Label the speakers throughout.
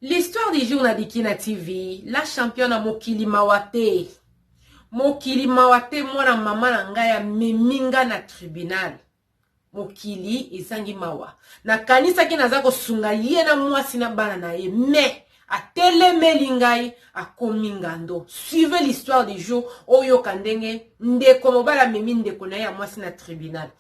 Speaker 1: L'histoire du jour na Dikina TV, la championne na mokili mawa te. Mokili mawa te mwana mama na ngai amemi ngai na tribunal. Mokili ezangi mawa. Nakanisaki naza kosunga ye na mwasi na bana na ye, mais atelemeli ngai akomi ngando suivez l'histoire du jour oyoka ndenge ndeko mobali amemi ndeko na ye ya mwasi na tribunal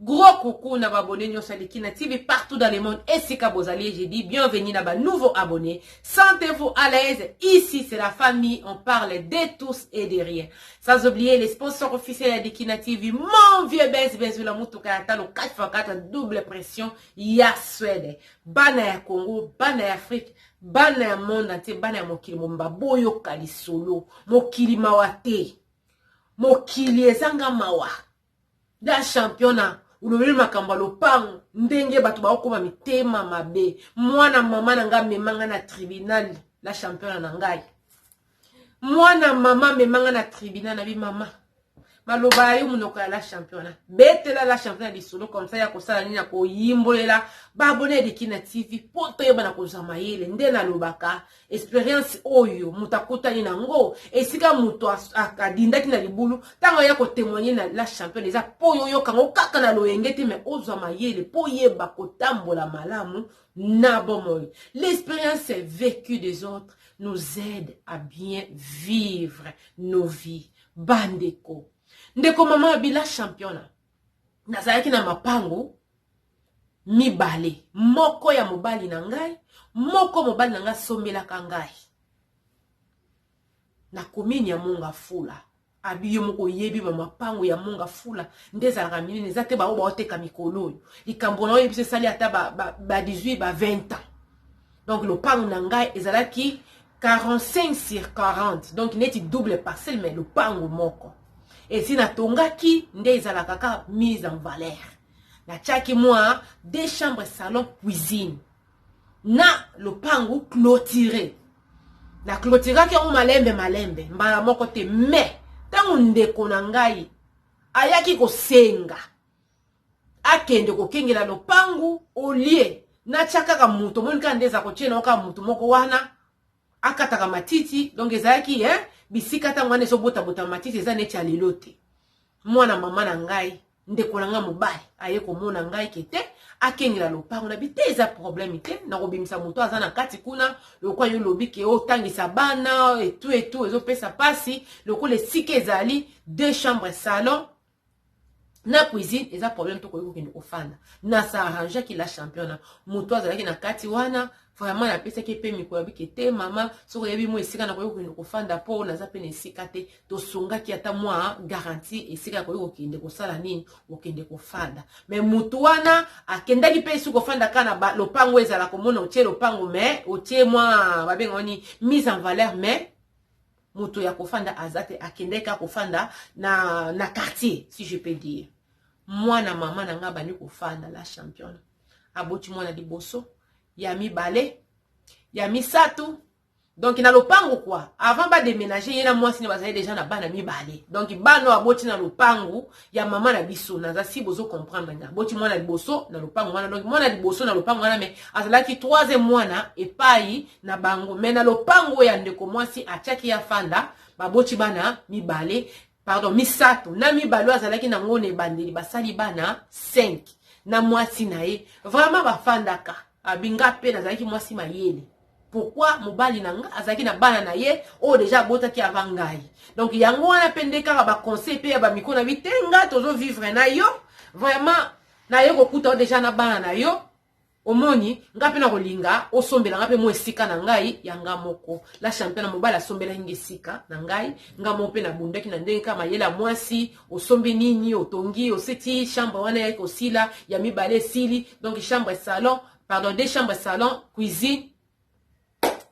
Speaker 1: Gros coucou na ba abonnés nionso ya Likina TV partout dans le monde esika bozali je dis bienvenue na ba nouveaux abonnés sentez-vous à l'aise ici c'est la famille on parle de tous et de rien sans oublier les sponsors officiels ya Likina TV mon vieux Benz Benzula mutuka ya talo 4x4 double pression ya Suède bana ya Congo bana ya Afrique bana ya monde entier bana ya mokili momba boyoka lisolo mokili mawa te mokili ezanga mawa Ya champion na olobeli makambo ya lopango ndenge bato baokoma mitema mabe mwana mama na ngai amema ngai na tribunal la championa na ngai mwana mama amema ngai na tribunal na bi mama maloba ya yo monoko ya la championa betela la championa lisolo komsa ya kosala nini akoyimbolela babone ya dikina tv mpo toyebana kozwa mayele nde nalobaka experience oyo moto akutani na yango esika moto adindaki na libulu ntango aya kotemoigne na la championne eza mpo oyo oyoka yango kaka na loyenge te mai ozwa mayele mpo oyeba kotambola malamu na bomoi l'expérience vécue des autres nous aide à bien vivre nos vies bandeko ndeko mama bila championa nazalaki na mapango mibale moko ya mobali na ngai moko mobali na ngai asombelaka ngai na komini ya monga fula abi yo moko oyebi bamapango ya monga fula nde ezalaka minene eza te baoyo baoteka mikolo oyo likambo na oyebisa esali ata ba, ba, ba 18 ba 20 ans donc lopango na ngai ezalaki 45 sur 40 donc neti double parcelle mais lopango moko esi natongaki nde ezalaka kaka mise en valeur natiaki mwa deux chambres salon cuisine na lopangu clotire na clotiraki yango malembe malembe mbala moko te mais ntango ndeko na ngai ayaki kosenga akende kokengela lopangu olie natya kaka moto omoni kaka nde eza kotyela yango kaka moto moko wana akataka matiti donc ezalaki eh, bisika ntango wana ezobotabota matiti eza neti ya lelo te mwana mama na ngai ndeko na ngai mobali aye komona ngai ke te akengela lopango na bi te eza problème te nakobimisa moto aza na kati kuna lokola yo lobi ke otangisa bana etu etu ezopesa mpasi lokola esika ezali deux chambre salon na cuisine eza problème tokoki kokende kofanda na s'arrangeaki la championa moto azalaki na kati wana vraiment napesaki ye mpe mikolo abiki te mama soki oyebi mwa esika nakoki kokende kofanda mpo naza mpe na esika te tosungaki ata mwa garanti esika yakoki kokende kosala nini kokende kofanda me motu wana akendaki mpe esi kofanda kaka na lopango ezala komona otie lopango me otie mwa babengao nini mise en valeur mais moto ya kofanda aza te akendaki kaka kofanda na, na quartier si je peux dire mwana mama na ngai abandi kofanda la championne aboti mwana liboso ya mibale ya misato donc na lopango kua avant bademénage ye na mwasi ne bazali deja na bana mibale donc bana oyo aboti na lopango ya mama na biso naza si bozo comprendre nga aboti mwana liboso na lopango wana donc mwana liboso na lopango wana me azalaki troisième mwana epai na bango me na lopango ya ndeko mwasi atiaki ya fanda baboti bana mibale pardon misato na mibale oyo azalaki na ngo na ebandeli basali bana 5 na mwasi na ye vraiment bafandaka abinga mpe nazalaki mwasi mayele pourquoi mobali na nga azalaki na bana na ye oyo deja abotaki avant ngai donc yango wana mpe nde kaka baconseil mpe ya bamiko na bi te nga tozovivre na yo vraiment naye kokuta yo deja na bana na yo omoni nga mpe nakolinga osombela nga mpe mwa esika na ngai ya nga moko la championa mobali asombelaki nga esika na ngai nga moko mpe nabundaki na ndenge kaka mayele ya mwasi osombi nini otongi oseti chambre wana yaki kosila ya mibale esili donc chambre salon pardon de chambre salon cuisine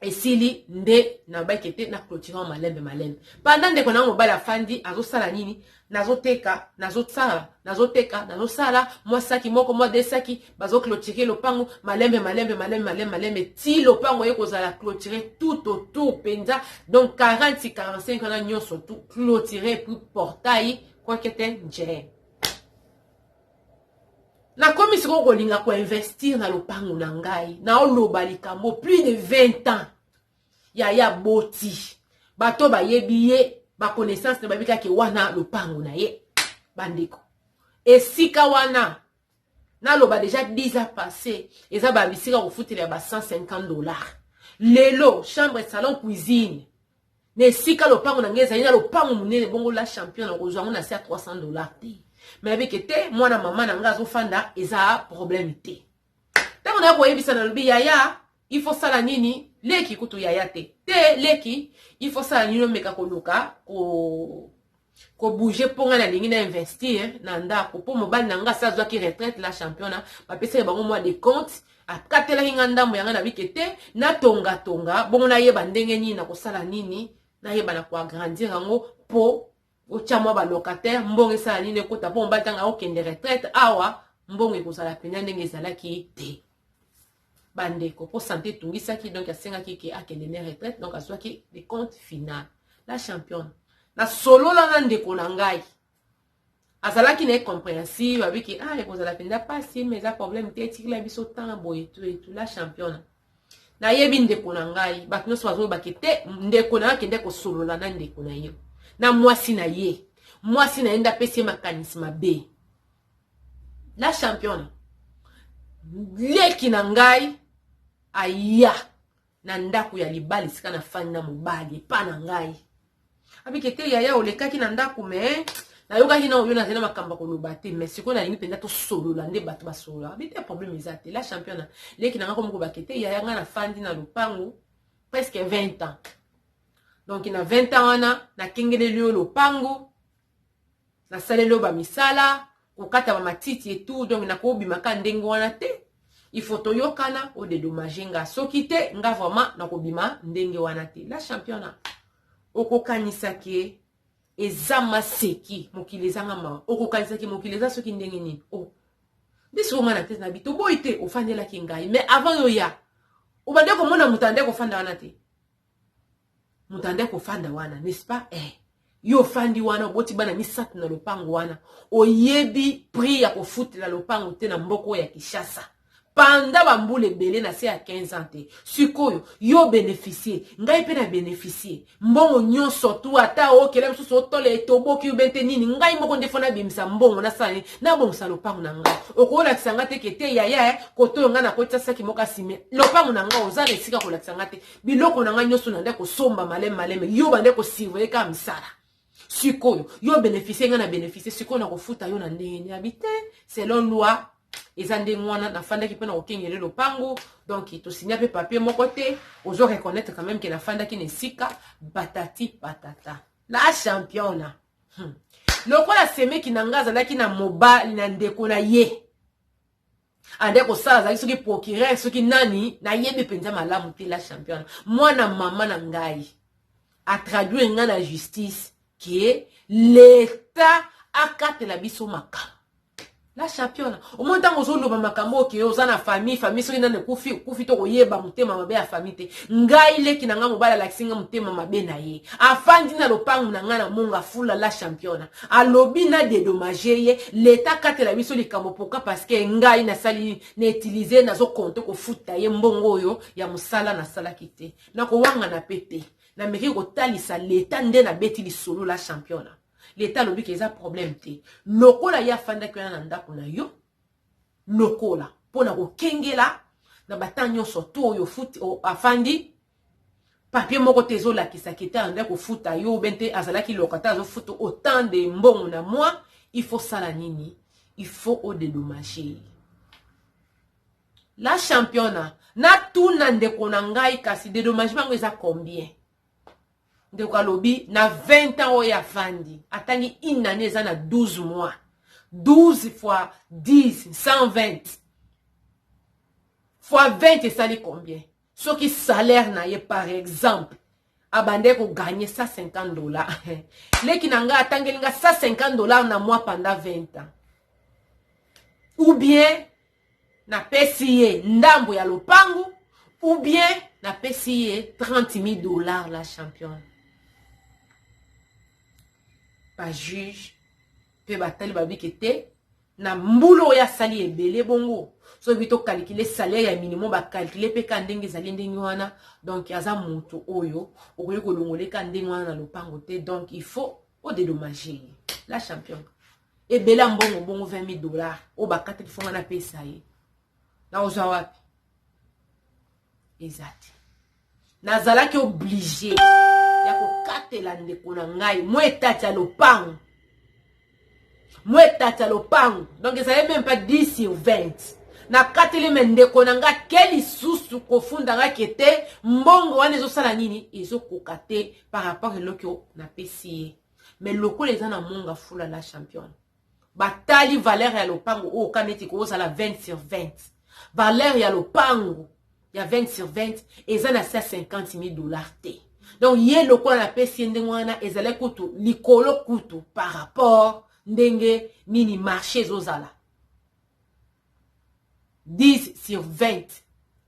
Speaker 1: esili nde na bake te na clôturant malembe malembe panda ndeko nango mobali afandi azosala nini nazoteka nazosala nazoteka nazosala mwa saki moko mwa de saki bazoclotire lopango malembe malembe malembe malembe malembe ti lopango ye kozala clotire tout autour mpenza donc 40 45 wana nyonso tout clotire puis portail kwakete njee nakomi sikoyo kolinga koinvestir na lopango na ngai naoloba likambo plus de 20 ans yaya boti bato bayebi ye baconnaissance na bayebi kaka wana lopango na ye bandeko esika wana naloba deja 10 ans passé eza babisika kofutela ya ba 150 dollars lelo chambre salon cuisine Na esika lopango na ngai ezali na lopango monene bongo la champion na kozwa yango na se ya 300 dollars te. Mais ayebi ke te mwana mama na ngai azofanda eza problème te. Tango na koyebisa na lobi yaya il faut sala nini leki kutu yaya te te leki il faut sala nini omeka koluka ko ko bouger po nga na lingi na investir na ndako po mobali na nga sa azwaki retraite la championa bapesaki bango mwa de compte akatelaki nga ndambo ya nga na bike te natonga tonga bongo nayeba ndenge nini nakosala nini nayeba na koagrandir yango po otya mwa balocataire mbongo esala nini ekota po mobali ntanga akokende retraite awa mbongo ekozala mpenza ndenge ezalaki te bandeko mpo sante etungisaki donc asengaki ke akende ne retraite donc azwaki le compte final la championne nasolola na ndeko na ngai azalaki na ye compréhensive abiki ah ekozala mpenza mpasi ma eza problème te etikila biso ntango boye tu etu la championne nayebi ndeko na ngai bato nyonso bazolobaki te ndeko na yo akende kosolola na ndeko na ye na mwasi na ye mwasi na ye nde apesi ye makanisi mabe la championa leki na ngai aya na ndako ya libala esika nafandi na mobali epa na ngai abike te yaya olekaki na ndako me nayokaki na oyo nazali na makambo ya koloba te mais sikoyo nalingi mpenza tosolola nde bato basolola abi te problème eza te la championa leki na ngai komokobake te yaya ngai nafandi na lopango presque 20 ans donc na 20 ans wana nakengeleli yo lopango nasaleli yo bamisala kokata bamatiti etout donc nakobima ka ndenge wana te il faut toyokana odedomage nga soki te nga vraiment nakobima ndenge wana te la championa okokanisa ke eza maseki mokili ezanga mawa okokanisa ke mokili eza soki ndenge nini o oh. biso nga na tete na bi toboyi te ofandelaki ngai mais avant yo ya obande komona moto ande kofanda wana te moto ande kofanda wana n'est-ce pas eh yo ofandi wana oboti bana misato na lopango wana oyebi prix ya kofutela lopango te na mboka oyo ya kinshasa panda bambula ebele na se ya 15 ans te sikoyo yo obeneficie ngai mpe na beneficie mbongo nyonso tu ata okela mosusu otola etoboki ube te nini ngai moko nde fo nabimisa mbongo nasala nini nabongisa lopango na ngai okolakisa ngai te kete yaya kotoyo ngai nakotisasaki moko asime lopango na ngai oza na esika kolakisa ngai te biloko na ngai nyonso na nde kosomba maleme maleme yo bande kosurveille kaka misala sikoyo yo beneficie ngai na beneficie sikoyo na kofuta yo na ndenge niabi te selon loi eza ndenge wana nafandaki mpe na kokengele lopango donc tosinya mpe papier moko te ozo reconnaître quand même ke nafandaki na esika batati patata la championa hmm. lokola semeki na ngai azalaki na mobali na ndeko na ye ade kosala azali soki procureur soki nani nayebi mpenza malamu te la championne mwana mama na ngai atraduire ngai na justice ke leta akatela biso makambo la championne omoi ntango ozoloba makambo oke oza na famille famille soki nani ekufi okufi to koyeba motema mabe ya famille te ngai leki na ngai mobali alakisi ngai motema mabe na ye afandi na lopango na ngai na monga fula la championne Alobi na dedommage ye, l'etat akatela biso likambo pourquoi parce que ngai nasali na utiliser nazo compte kofuta ye mbongo oyo ya musala nasalaki te. Nakowangana pe te. Nameki kotalisa l'etat nde nabeti lisolo la championa. L'etat alobi ke eza problème te. Lokola ye afandaki wana na ndako na yo, lokola pona kokengela na ba temps nyonso to oyo afandi papier moko te ezolakisa ke ta yanda kofuta yo obe nte azalaki locataire azofuta autant de mbongo na mwa il faut sala nini il faut odedommage la championa natuna ndeko na ngai kasi dedommagement yango eza combien ndeko alobi na 20 ans oyo afandi atangi une année eza na 12 mois 12 fois 10 120 fois 20 esali combien soki salaire na ye par exemple abandaki koganye 150 dollar leki na ngai atangeli ngai 150 dollar na mois panda 20 ans ou bien napesi ye ndambo ya lopango ou bien napesi ye 30 000 dollar la championne bajuge mpe batali babike te na mbula oyo asali ebele bongo soki to calculer salaire ya minimum ba calculer pe ka ndenge ezali ndenge wana donc aza mutu oyo okoki kolongole ka ndenge wana na lopango te donc il faut o dédommager ye la champion ebele ya mbongo bongo 20 000 dollars oyo bakataki fonga na pesa ye na ozwa wapi eza te nazalaki oblige ya kokatela ndeko na ngai mwa etati ya lopango mwa etati ya lopango donc ezali meme pas 10 sur 20 nakateli me ndeko na ngai ke lisusu kofunda ngai ke te mbongo wana ezosala nini ezokoka te par rapport eloko napesi ye me lokola eza na monga fula la championne batali valeur ya lopango oyo oh, kama ete kozala 20 sur 20 valeur ya lopango ya 20 sur 20 eza na 150 000 dollars te donc ye lokola napesi ye ndenge wana ezali kutu likolo kutu par rapport ndenge nini marché ezozala 10 sur 20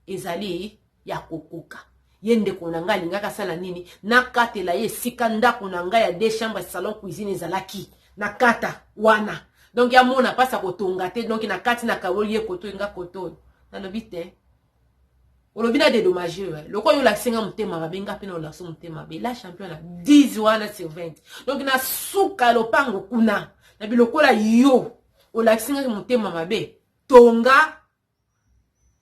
Speaker 1: ezali ya kokoka ye ndeko na ngai alingaki asala nini nakatela ye esika ndako na ngai ya de chambre salon cuisine ezalaki na kata wana donk amona mpasi ya kotonga te donk na kati na kawoli ye koto enga koto oyo nalobi te olobi na dedommage yo eh. lokola olakisi nga motema mabe nga mpe na olakisi motema mabe la champion na 10 wana sur 20 donc na suka ya lopango kuna na bilokola yo olakisi ngaki motema mabe tonga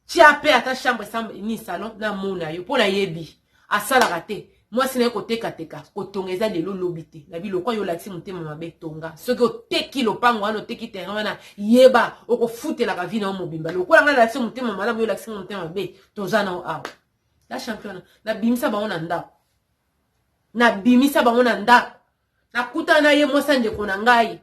Speaker 1: tya mpe ata chambre nini salon namona yo mpo nayebi asalaka te mwasi naye kotekateka kotonga eza lelo lobi te na biloko yo olakisi motema mabe tonga soki oteki lopango wana oteki terrain wana yeba okofutelaka vi na yo mobimba lokola ngai nalakisi motema malamu yo olakisi motema mabe toza nao awa la championa nabimisa bango na ndako nabimisa bango na ndako nakutana na ye mwasi ya ndeko na ngai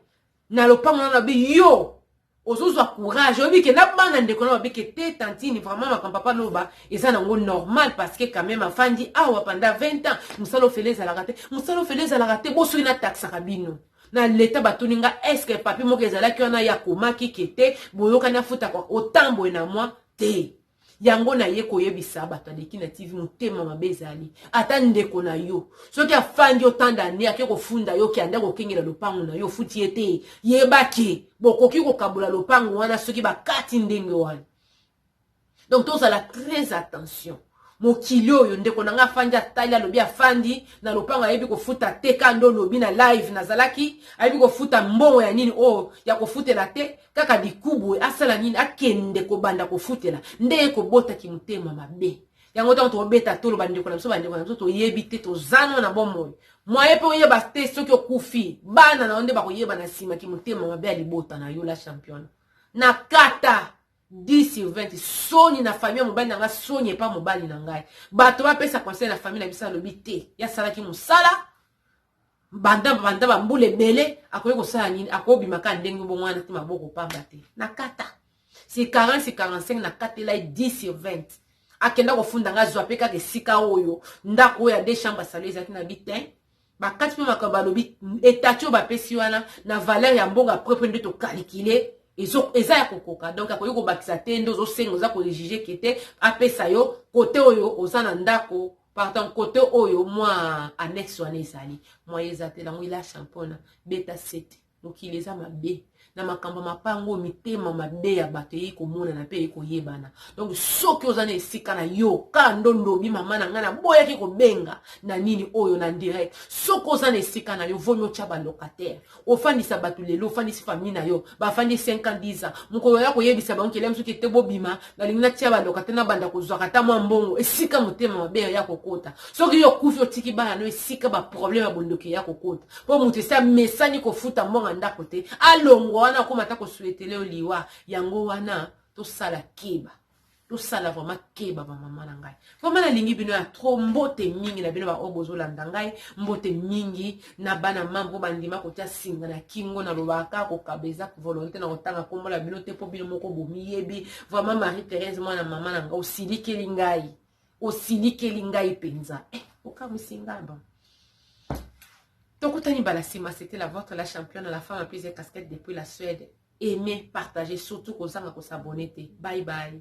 Speaker 1: na lopango na babi yo ozozwa courage oyebi ke na bana ndeko na babi ke te tantine vraiment makambo papa loba eza nango normal parce que quand même afandi awa panda 20 ans mosala ofele ezalaka te mosala ofele ezalaka te bo soki nataxaka bino na leta batuni nga eske papi moko ezalaki wana ya komaki ke te boyokani afutaka otamboye na mwa te yango naye koyebisa bato ya leki na tv motema mabe ezali ata ndeko na yo soki afandi otanda ne ake kofunda yo ke anda kokengela lopango na yo ofuti ye te yeba ke bokoki kokabola lopango wana soki bakati ndenge wana donc tozala très attention mokili oyo ndeko na ngai afandi atali alobi afandi na lopango ayebi kofuta te ka nde olobi na live nazalaki ayebi kofuta mbongo ya nini oyo oh, ya kofutela te kaka dikubu asala nini akende kobanda kofutela nde ye kobota kimotema mabe yango ntango tokobeta tolo bandeko na biso bandeko na biso toyebi te tozano na bomoi mwaye mpe oyeba te soki okufi bana na yo nde bakoyeba na nsima kimotema mabe ya libota na yo la champione na kata 10 sur 20 soni na famille ya mobali na ngai soni epa mobali na ngai bato bapesa conseil na famille na biso alobi te yasalaki mosala Banda banda ba mbula ebele akoki kosala nini akobima kaka ndenge bongo wana te maboko pamba te na kata si 40 si 45 na katela ye 10 sur 20 akenda kofunda nga azwa mpe kaka esika oyo ndako oyo ya de chambre asalo ezalaki na bitin bakati mpe makambo balobi etati oyo bapesi wana na valeur ya mbongo apres mpe nde tokalikile eza ya kokoka donc akoki kobakisa te nde ozosenga oza kojuge ke te apesa yo kote oyo oza na ndako Partant kote oyo mwa annexe wana ezali moyen eza te nango ila champona beta sete mokili eza mabe na makambo mapango oyo mitema mabe ya bato eyei komonana mpe eyei koyebana donk soki oza na esika na yo ka ndo ndobi mama na ngai naboyaki kobenga na nini oyo na direct soki oza na esika na yo vomi otya balocataire ofandisa bato lelo ofandisi famille na yo bafandi 5 ans 10 ans mokolo oya koyebisa bango kelia mosuki ete bobima nalingi natia baloka te nabanda kozwaka ata mwa mbongo esika motema mabe ya kokota soki yo okufi otiki bana no esika baproblème ya bondoki eya kokota mpo moto esi amesani kofuta mbongo ndako te alongwa wana akoma ata kosuetele yo liwa yango wana tosala keba tosala vraiment keba ba mama na ngai vraiment nalingi bino ya trop mbote mingi na bino baoyo bozolanda ngai mbote mingi na bana mama mpo bandima kotya singa na kingo nalobaka kaka kokaba eza volonté na kotanga nkombo na bino te mpo bino moko bomiyebi vraiment marie therese mwana mama na ngai osilikeli ngai osilikeli ngai mpenza eh, okamwisi ngai bon tokutani mbala nsima c'était la votre la championne la femme aprise casquette depuis la suède aime partage surtout kozanga ko s'abonner te bye bye.